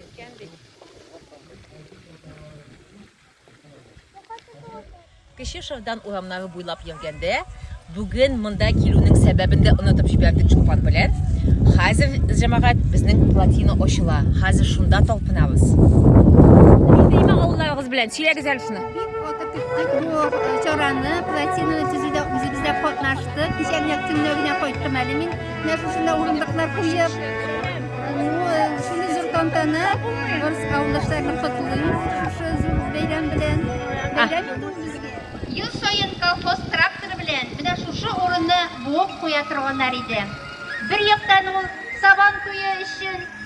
Икән бит. Кече Шырдан урамнары буйлап йөргәндә, бүген монда килүнең сәбәбен дә онытып җибәрдек Чулпан белән. Хәзер җәмәгать безнең плотина ачыла. Хәзер шунда талпынабыз. Нидәйме авылларыгыз белән? Сөйләгез әле шуны. Бик каты көттек бу э, чараны, плотинаны төзүдә үзебез дә катнаштык. Кичә генә төнлә генә кайттым әле мин. Нәрсәсенә урындыклар куеп, шуны зур тантана, барысы авылдашларны котлыйм шушы зур бәйрәм белән. Бәйрәм инде ул безгә. Ел саен колхоз тракторы белән менә шушы урынны буып куя торганнар иде. Бер яктан ул сабан туе өчен,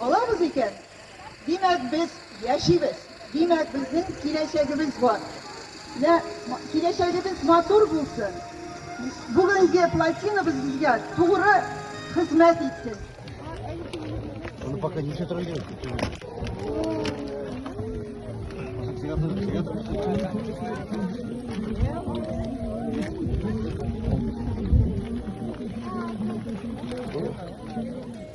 Алабыз икән, димәк, без яшибез, димәк, безнең киләчәгебез бар. Менә киләчәгебез матур булсын, бүгенге плотинабыз безгә тугры хезмәт итсен. Ну, пока не трогаем. Thank you.